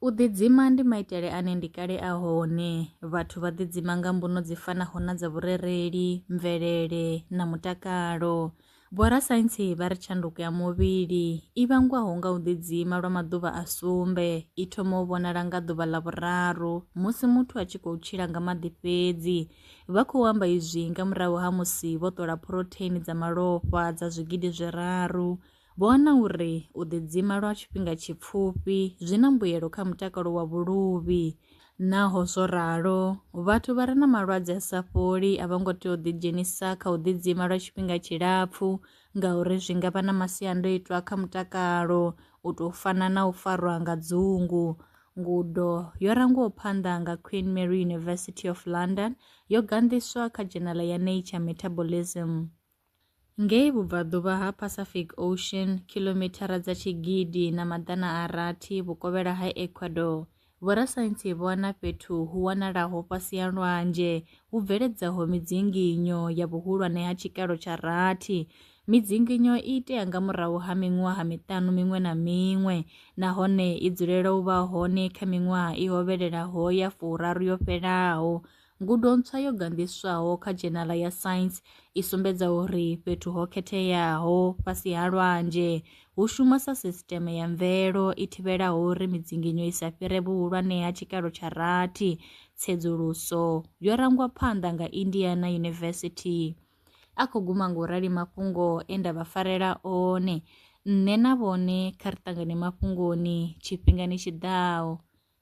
U ḓidzima ndi maitele ane ndi kale a hone. Vhathu vha ḓidzima nga mbuno dzi fanaho na dza vhurereli, mvelele na mutakalo. Vhorasaintsi vha ri tshanduko ya muvhili i vhangwaho nga u ḓidzima lwa maḓuvha a sumbe i thoma u vhonala nga ḓuvha ḽa vhuraru musi muthu a tshi khou tshila nga maḓi fhedzi. Vha khou amba izwi nga murahu ha musi vho ṱola phurotheini dza malofha dza zwigidi zwiraru Vho wana uri u ḓidzima lwa tshifhinga tshipfufhi zwi na mbuyelo kha mutakalo wa vhuluvhi. Naho zwo ralo, vhathu vha re na malwadze a sa fholi a vho ngo tea u ḓidzhenisa kha u ḓidzima lwa tshifhinga tshilapfu ngauri zwi nga vha na masiandoitwa kha mutakalo u tou fana na u farwa nga dzungu. Ngudo yo rangwaho phanḓa nga Queen Mary University of London yo ganḓiswa kha dzhenala ya Nature Metabolism. Ngei vhubvaḓuvha ha Pacific Ocean, kilomithara dza tshigidi na maḓana a rathi vhukovhela ha Ecuador, vhorasaintsi vho wana fhethu hu wanalaho fhasi ha lwanzhe hu bveledzaho midzinginyo ya vhuhulwane ha tshikalo tsha rathi. Midzinginyo i itea nga murahu ha miṅwaha miṱanu miṅwe na miṅwe nahone i dzulela u vha hone kha miṅwaha i hovhelelaho ya furaru yo fhelaho. Ngudo ntswa yo ganḓiswaho kha dzhenala ya Science i sumbedza uri fhethu ho khetheaho fhasi ha lwanzhe hu shuma sa sisiteme ya mvelo i thivhelaho uri midzinginyo i sa fhire vhuhulwane ha tshikalo tsha rathi. Tsedzuluso yo rangwa phanḓa nga Indiana University. A khou guma nga u rali mafhungo e nda vha farela one. Nṋe na vhone kha ri ṱangane mafhungoni tshifhingani tshi ḓaho.